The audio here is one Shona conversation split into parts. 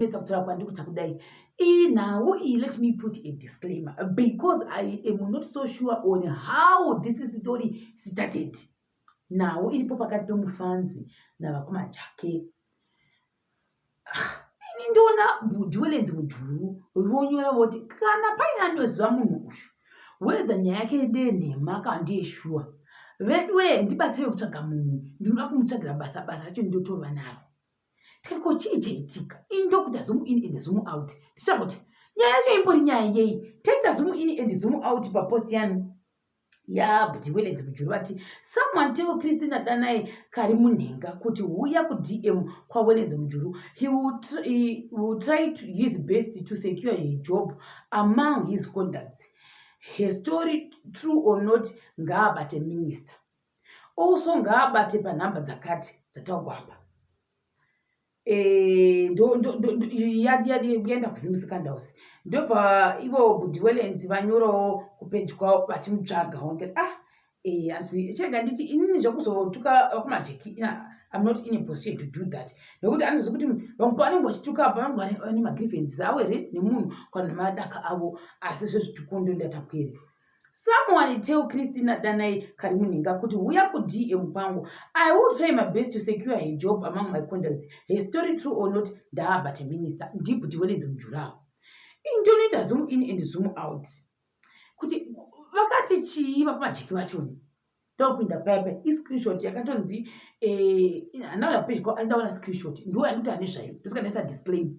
kupedza kutaura kwandiri kuita kudai inhawo iyi let me put a disclaimer because i am not so sure on how this story started nawo iripo pakati pemufanzi navakoma jake ah, ini ndoona bhudhi welenzi mujuru vonyora voti kana paine anoziva munhu uyu wedha nyaya yake ndenhema kana ndiye shuwa veduwee ndibatsire kutsvaga munhu ndinoda kumutsvagira basa basa racho ndotova naro tariko chii chaitika ini ndokuda zumu in and zumu out ndichita kuti nyaya yacho imbori nyaya yei taita zumu in and zumu out papost yanu yabdi welens mujuru vati someone tell christina danai kari munhenga kuti huya kudm kwawelens mujuru he will try to his best to secure his job among his contacts her story true or not ngaabate minister also ngaabate panhamba dzakati dzataugwa apa eh, yaenda kuzimusikandous ndobva ivo budiwelens vanyorawo kupeji kwavo vachimutsvaga onke ah eh, asi chega nditi inini zvekuzotuka vakumajeki im not in a position to do that nekuti anoziva kuti vamwe pavanenge vachituka apa vanenge vane magrievances avo here nemunhu kana madaka avo asi zvezvitukundo ndatakueri someone tell christina danai kari munhinga kuti huya kudm kwangu i will try my best to secure her job among my contacts her story true or not ndaaba teminister ndibhuti wenenzi mujuraho intonoita zoom in and zoom out kuti vakati chii vapamajiki vachoni ndokupinda paipa iscreenshot yakatonzi eh, andauya pedyo andaona screenshot ndiwo anoti ane zvayo ndosikanesa disclaim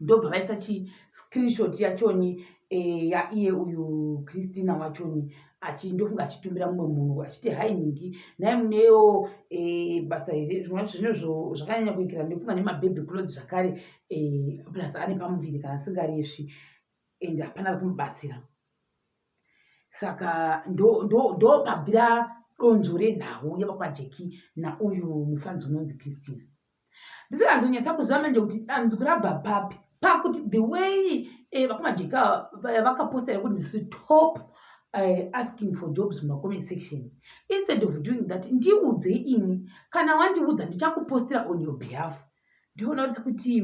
ndobva vaisa chi screenshot yachoni eh, yaiye uyu christina wachoni achindofunga achitumira mumwe munhu achiti hai nhingi nai muneyo eh, basa here zvimwe zvacho zvine zvakanyanya kuikira ndofunga nemababy clothes zvakare eh, plus ane pamuviri kana asingaresvi and hapana ri kumubatsira saka ndopabvira donzvo renhau yevapajeki nauyu mufanzi unonzi christina ndisingazonyatsa kuziva manje kuti dambudziko rabva papi pakuti the way eh, vakumajeka eh, vakapostera kuti ndisi top eh, asking for jobs mumacomment section instead of doing that ndiudze ini kana wandiudza ndichakupostera on your behalf ndioona kuti kuti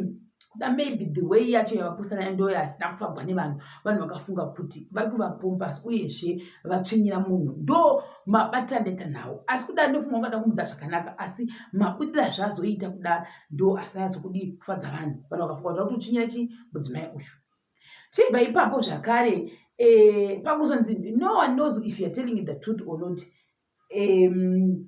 da maybe the way yacho yavapusana ndo yasina kufagwa nevanhu vanhu vakafunga kuti vari kuvapompas uyezve vatsvinyira munhu ndo mabatira ndaita nhau asi kudai ndofunga ungada kumudza zvakanaka asi mabudira zvazoita kuda ndo asina yazokudi kufadza vanhu vanhu vakafunga kuti vakutotsvinyira chi mudzimai uyu chibva ipapo zvakare eh, pakuzonzi no one knows if youare telling the truth or not um,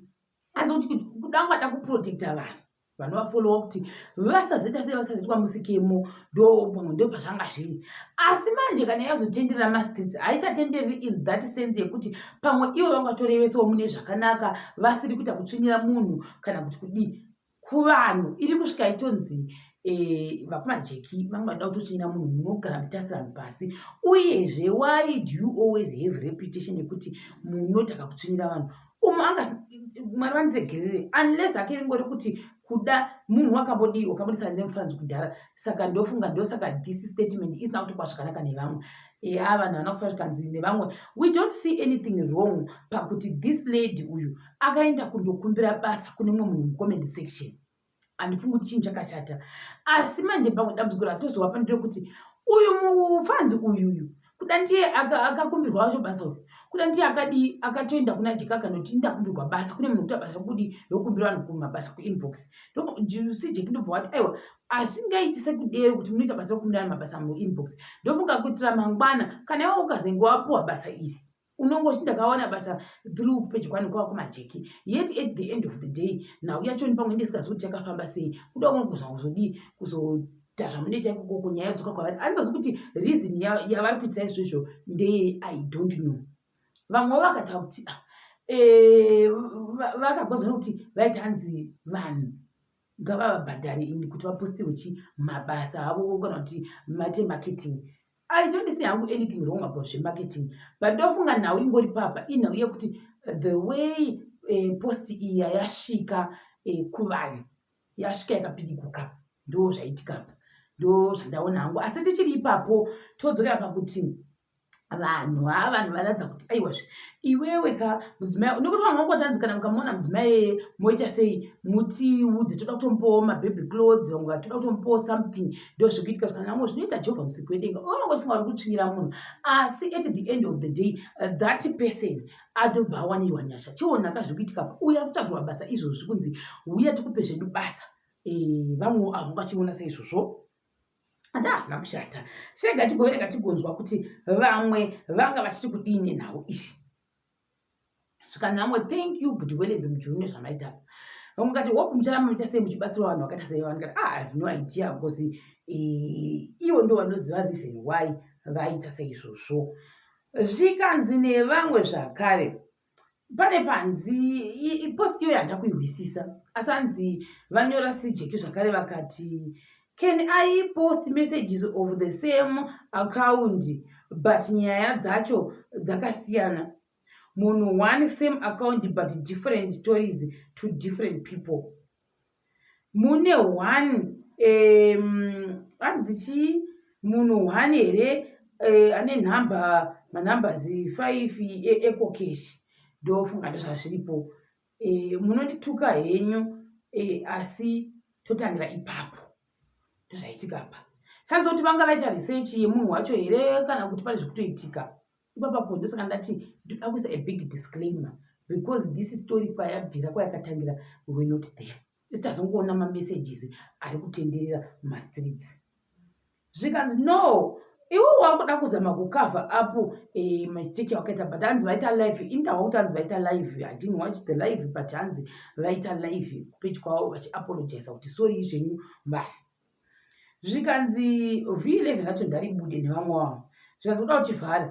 asi kuti kudangwada kuprotecta vanhu vanovafollowa kuti vasazoita sei vasazoitwa musikemo ndo pamwe ndo pazvanga zviri asi manje kana yazotenderera mastates haichatendereri in that sense yekuti pamwe ivo vangatorevesawo mune zvakanaka vasiri kuita kutsvinyira munhu kana kuti kudii kuvanhu iri kusvika itonzi Eh, vakumajeki vanga vada kutochinyira munhu munogara mutasirano pasi uyezve why do you always have reputation yekuti munotaka kutsvinyira vanhu umu anga mwari vandiregerere unless hake ringori kuti kuda munhu wakambodii wakambodisa nemufanzi kudhara saka ndofunga ndosaka this statement isina kutokwa zvakanaka nevamwe ya vanhu vana kufa zvikanzi nevamwe we don't see anything wrong pakuti this lady uyu akaenda kundokumbira basa kune mumwe munhu mucomment section handifungi kuti chinhu chakachata asi manje pamwe dambudziko ratozova pandire kuti uyu mufanzi uyu uyu kuda ndiye akakumbirwa wacho basa uyu kuda ndiye akadii akatoenda kuna jeka akanoti ndakumbirwa basa kune munhu kuita basa kudi yokumbira vanhu kumabasa kuinbox si jeki ndobva wati aiwa asingaiti sekudero kuti munoita basa rokumbira vanhu mabasa muinbox ndofunga kuitira mangwana kana iwe ukazenge wapuwa basa iri unongoti ndakawana basa through pedyo kwani kwava kumajeki yet at the end of the day nhau yachoni pamwe ndisingazi kuti chakafamba sei kuda kuno kuzva kuzodii kuzoita zvamunoita ikokoko nyaya yodzoka kwavari andizozi kuti reason yavari kuitira izvozvo ndeye i don't know vamwewo vakataura kuti ah, eh, vakagozana kuti vaita hanzi vanhu ngavavabhadhare ini kuti vapostirwe chi mabasa avo kana kuti mate marketing I don't see hangu anything wrong about zvemarketing but ndofunga nhau ingori papa inhau yekuti the way eh, post iya yasvika eh, kuvanhu yasvika yakapiriguka ndo zvaitikapa ndo zvandaona hangu asi tichiri ipapo todzokera pakuti vanhu haa vanhu vanoratidza kuti aiwazve iwewe ka mudzimai nekuti vanhu vangotanzi kana mukamona mudzimai eye moita sei mutiudze toda kutomupawo mabhebhi clothes vamwe vatoda kutomupawo something ndozvikuitika zvakanamwe zvinoita jehovha musiki wedenga unongofunga uri kutsvinyira munhu asi at the end of the day uh, that person adobva awanirwa nyasha chionaka zviri kuitika pa uya kutsvagirwa basa izvozvi kunzi huya tikupe zvedu basa eh, vamwe avo vachiona seizvozvo anda hazvina kushata shega tigoverenga tigonzwa kuti vamwe vanga vachiti kudii nenhau izvi saka nhamo thank you but weledzi mujuru nezvamaita vamwe kati hope muchara munoita sei muchibatsira vanhu vakaita sei vanhu kati ah have no idea because eh, ivo ndo vanoziva reason why vaita seizvozvo zvikanzi nevamwe zvakare pane panzi post iyoyo handina kuihwisisa asi anzi vanyora sijeki zvakare vakati can i post messages of the same account but nyaya dzacho dzakasiyana munhu one same account but different stories to different people mune one hanzi um, chii munhu one here uh, ane nhamba manumbers five ecocash ndofunga ndozvazviripo e, munondituka henyu e, asi totangira ipapo ndozvaitika pa saizoti vanga vaita research yemunhu wacho here kana kuti pane zvekutoitika ipapapo ndosaka ndati ndoda kuisa a big disclaimer because this story kwayabvira kwayakatangira we not there just azongoona mamessages ari kutenderera mumastreets zvikanzi no iwe wakuda kuzama kucover up eh, mistake yawakaita but hanzi vaita live indawa kuti hanzi vaita live i didn't watch the live but hanzi vaita live kupeji kwavo vachiapologiza kuti sori izvenyu mbaya zvikanzi v11 racho ndaribude nevamwe wavo zvikanzi uda kuti vhare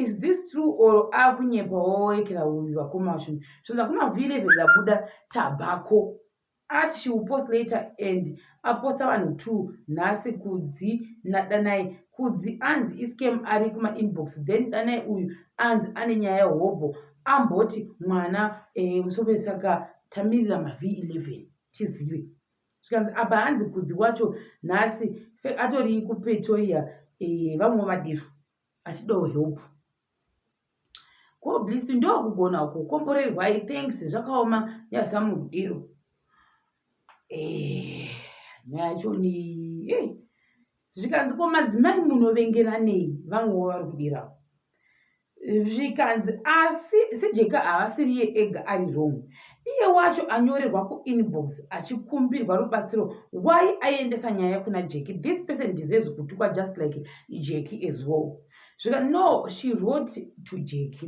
is this true or akunyepa wawaekera uyu vakoma vacho zvikanzi akuna v11 rabuda tabako at she will post later and aposta vanhu two nhasi kudzi nadanai kudzi anzi iscam ari kumainbox then danai uyu anzi ane nyaya yehobho amboti mwana eh, musopesaka tamirira mav11 tizive zvikanzi apa hanzi kudzi wacho nhasi atori kupretoria eh, vamwe vadiro achidawo help koblisu ndokugona uko komborerwai thanks zvakaoma yazamu kudiro eh, nyaya yacho ni eh, zvikanzi ko madzimai munovengeranei vamwe wavari kudirawo zvikanzi asi sejeka havasiriye ega ari wrong iye wacho anyorerwa kuinbox achikumbirwa rubatsiro why aiendesa nyaya kuna jeki this person deserves kutukwa just like jeki as well zvika no she wrote to jeki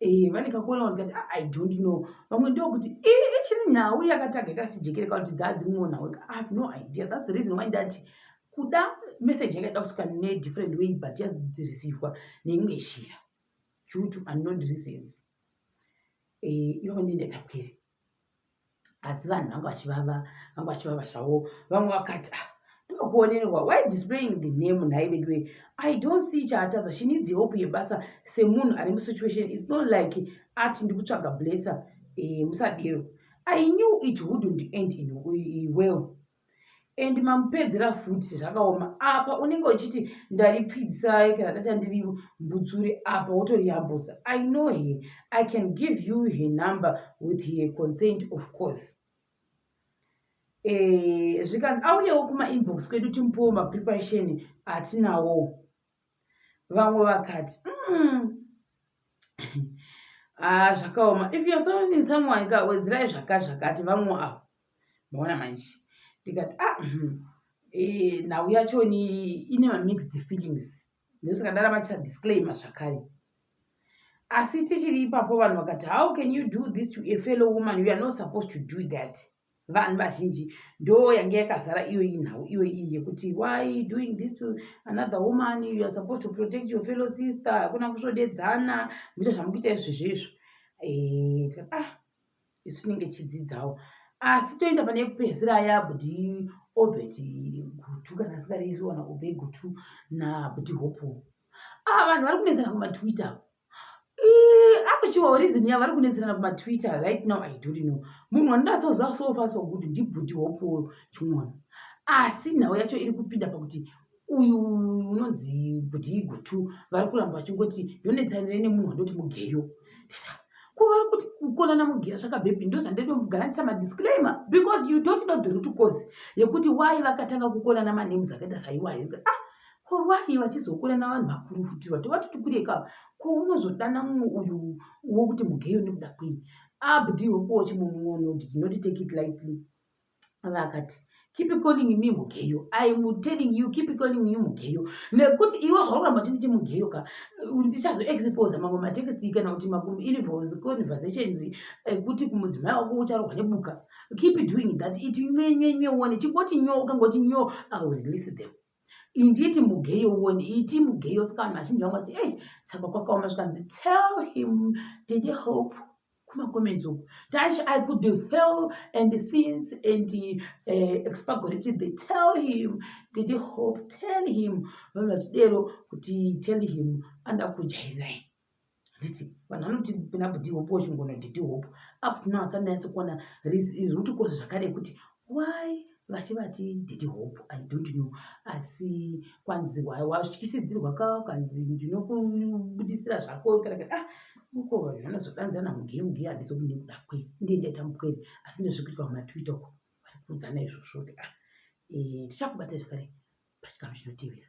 Eh, vane kakuona vanhu kati ah, i don't know vamwe ndokuti ichiri nhau yakataga ikasijekere kauti dzaadzimwewo nhau i have no idea thats the reason why ndati kuda message yanga ida kusvika nedifferent way but yazodzirisirwa neimwe shira due to unknown reasons eh, ivava ndindaitapwere asi vanhu vanga vachivava vanga vachivava zvavo vamwe vakati ah, ndokuonerwa why displaying the name nhai veduwe i don't see chaatadza she needs hope yebasa semunhu ari musituation its not like ati ndikutsvaga blesser e, musadero i knew it wouldn't end in well and mamupedzera futi zvakaoma apa unenge uchiti ndaripfidzisai kana data ndiri mbudzuri apa wotoriyambusa i know her i can give you her number with her consent of course eh, zvikanzi auyewo kumainbox kwedu timupowo mapreparation atinawo vamwe vakati mm. ah, zvakaoma if you're sounding someone ka wedzirai zvakati zvakati vamwe avo maona manje ndikati ah mhm. eh, nhau yachoni ine mamixed feelings ndosaka ndaramatisa disclaimer zvakare asi tichiri ipapo vanhu vakati how can you do this to a fellow woman you are not supposed to do that vanhu vazhinji ndo yange yakazara iyo iyi nhau iyo iyi yekuti why doing this to another woman you are supposed to protect your fellow sister hakuna kusvodedzana muita zvamukuita izvezvo izvo eh, ah isu tinenge tichidzidzawo asi toenda pane yekupedzisira yabdi obet gutu kana asingareizviwana obe gutu nabdi hopo a ah, vanhu vari kunetsana kumatwitter akuchivawo reason yavari kunetsana kumatwitter right now i don't know munhu wandinatsoziva sofa so good ndibdi hopo chimwana asi nhau yacho iri kupinda pakuti uyu unonzi kuti igutu vari kuramba vachingoti yonetsanire nemunhu wandoti mugeyo kuvari kuti kukonana mugeyo zvakabhepi ndozvandedogaranisa madisclaimer because you don't know the root cause yekuti why vakatanga kukonana manems akaita saiwayo ah ko why vachizokonana vanhu vakuru futi vato vatoti kure ka ko unozodana mumwe uyu wokuti mugeyo nekuda kwei abdi wekuochi mumwe unoti tinoti take it lightly vakati keep calling me mugeyo im telling you keep calling you mugeyo nekuti iwe zvauramba chinditi mugeyo ka ndichazo exposa mamwe matexti kana kuti maconversations ekuti eh, kumudzimai wako ucharohwa nebuka keep doing that it nyenyenye one chingoti nyo ukangoti nyo i will release them inditi mugeyo woni iti mugeyo saka vanhu vazhinji vanga vati ei saka kwakaoma zvikanzi tell him didi hope kumacomments uku tash i could fail and since and uh, expagority they tell him didi hope tell him vanhu vachidero kuti tell him anoda kujaizai handiti vanhu vanoti nabuti hope wachingona diti hope apo tinoasa ndanyatsokuona root cause zvakare kuti why vachivati diti hope i don't know asi kwanzi why wazvityisidzirwa ka kanzi ndinokubudisira zvako kana kuti ah uko vanhu vanozodanzana mugemu ge handisi kuti ndikuda kwe ndiye ndaita mukwere asi ndezvekuitwa mumatwitter uko vari kuudzana izvozvo kuti ah eh, tichakubata zvakare pachikamu chinotevera